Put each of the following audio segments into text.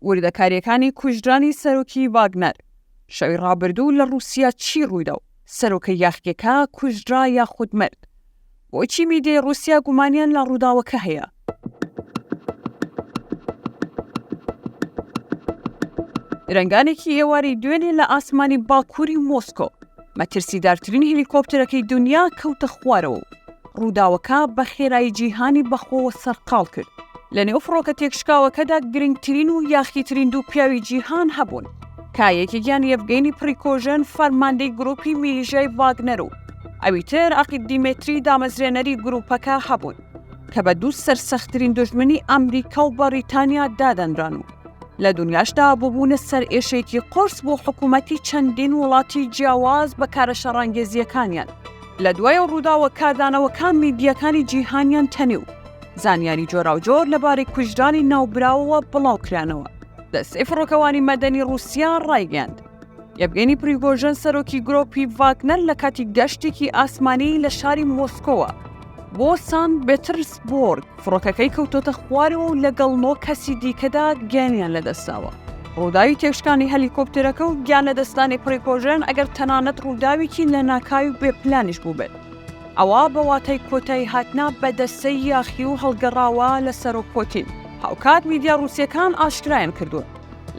وردەکارییەکانی کوژرانی سەرۆکی ڤاگنەر، شەوی ڕابردوو لە ڕووسیا چی ڕوویدا و سەرۆکە یاخییەکە کوژرا یاخود مرد؟ بۆچی میدیای ڕووسیا گومانیان لە ڕووداوەکە هەیە؟ درەنگانێکی ئێواری دوێنێ لە ئاسمانی باکووری مۆسکۆ مەترسیدارترین هەلیکۆپتەرەکەی دنیا کەوتە خوارەوە و ڕووداوەکە بە خێرایی جیهانی بەخۆوە سەرقاڵ کرد لە نێو فڕۆکە تێکشکاوەکەدا گرنگترین و یاخیترین دوو پیاوی جیهان هەبوون کە یەکێکیان یەفگەینی پڕیکۆژن فەرماندەی گروپی میلیژای ڤاگنەر و ئەویتر عقید دیمەتری دامەزرێنەری گروپەکە هەبوون کە بە دوو سەرسەخترین دوژمنی ئەمریکا و بەڕیتانیا دادەنران و لە دنیاشدا ببوونە سەرئێشێکی قۆرس بۆ حکوومەتی چەندین وڵاتی جیاواز بە کارە شەڕانگێزییەکانیان لە دوای ڕووداوە کاردانەوەکان میدیەکانی جیهانیان تەنێ و زانیاری جۆراوجۆر لەبارەی کوژرانی ناوبراوەوە بڵاوکرانەوە دەستەی فڕۆکەوانی مەدەنی ڕووسیا ڕایگەیاند یەڤگێنی پریگۆژن سەرۆکی گرۆپی ڤاگنەر لە کاتی گەشتێکی ئاسمانی لە شاری مۆسکۆوە بۆ سان بێترسبۆرگ فڕۆکەکەی کەوتۆتە خوارەوە و لەگەڵ نۆ کەسی دیکەدا گیانیان لەدەستاوە. ڕووداوی تێکشکانی هەلیکۆپتەرەکە و گیان لەدەستدانی پریگۆژن ئەگەر تەنانەت ڕووداوێکی لەناکاوی و بێپلانیش بووبێت، ئەوا بە واتای کۆتایی هاتنە بە دەسەی یاخی و هەڵگەڕاوە لە سەرۆک پۆتین. هاوکات میدیا ڕووسییەکان ئاشکرایان کردووە،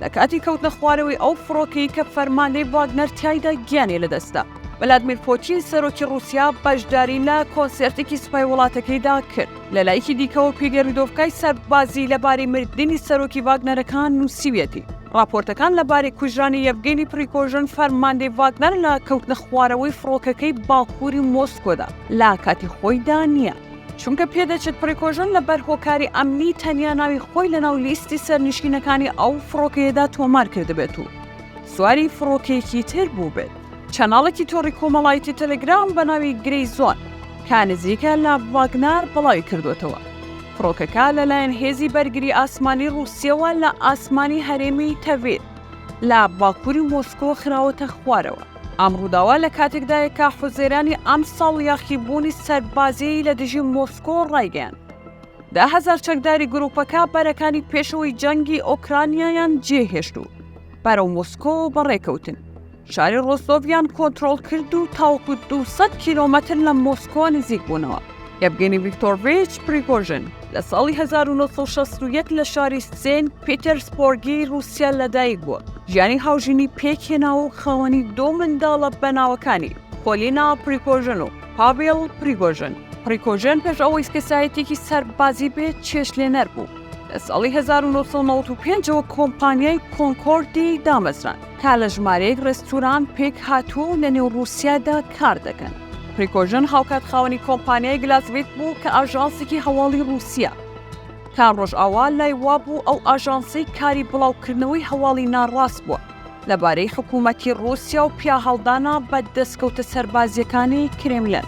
لە کاتی کەوتنە خوارەوەی ئەو فڕۆکەی کە فەرماندەی ڤاگنەر تایدا گیانی لەدەستدا ولادمیر پۆتین سەرۆکی رووسیا بەشداری لە کۆنسێرتێکی سوپای وڵاتەکەیدا کرد لە لایەکی دیکەوە کوێگەی ردۆڤکای سەربازی لەبارەی مردنی سەرۆکی ڤاگنەرەکان نووسیویەتی راپۆرتەکان لەبارەی کوژرانی یەڤگەنی پریکۆژن فەرماندەی ڤاگنەر لە کەوتنە خوارەوەی فڕۆکەکەی باکووری مۆسکۆدا لە کاتی خۆیدا نییە. چونکە پێدەچێت پریکۆژن لە بەر هۆکاری ئەمنی تەنیا ناوی خۆی لەناو لیستی سەرنیشینەکانی ئەو فڕۆکەیەدا تۆمار کردبێت و سواری فڕۆکەیەکی تر بوو بێت. چەناڵێکی تۆڕی کۆمەڵایەتی تەلەگرام بە ناوی گرەی زۆن کە نزیکە لە ڤاگنار بڵاوی کردووەتەوە، فڕۆکەکە لەلایەن هێزی بەرگری ئاسمانی ڕووسیەوە لە ئاسمانی هەرێمی تەڤید لە باکووری مۆسکۆ خراوەتە خوارەوە. ئەم ڕووداوە لە کاتێکدایە کە حوزەیرانی ئەمساڵ یاخیبوونی سەربازیی لە دژی مۆسکۆ ڕایگەیاند، دە هەزار چەکداری گرووپەکە بەرەکانی پێشەوەی جەنگی ئۆکرانیایان جێهێشت و بەرەو مۆسکۆ بەڕێکەوتن، شاری ڕۆستۆڤیان کۆنترۆڵ کرد و تاوەکو دوو سەد کیلۆمەتر لە مۆسکۆ نزیک بوونەوە. یەڤگێنی ڤیکتۆرڤیچ پریگۆژن لە ساڵی 1960 لە شاری سێنت پیتەرسبۆرگی رووسیا لەدایک بووە ژیانی هاوژینی پێکهێنا و خاوەنی دوو منداڵە بە ناوەکانی پۆلینا پریگۆژن و پاڤێڵ پریگۆژن پریکۆژن پێش ئەوەی کەسایەتێکی سەربازی بێت چێشتلێنەر بوو لە ساڵی 1995ەوە کۆمپانیای کۆنکۆردی دامەزراند کە لە ژمارەیەک ڕێستوران پێک هاتووە و لە نێو ڕووسیادا کار دەکەن. پریکۆژن هاوکات خاوەنی کۆمپانیای گلاسڤیت بوو کە ئاژانسێکی هەواڵی ڕووسییە. کە ڕۆژئاوا لای وابوو ئەو ئاژانسەی کاری بڵاوکردنەوەی هەواڵی ناڕاست بووە لەبارەی حکوومەتی ڕووسیا و پیاهەڵدانە بە دەسکەوتە سەربازییەکانی کرێملن.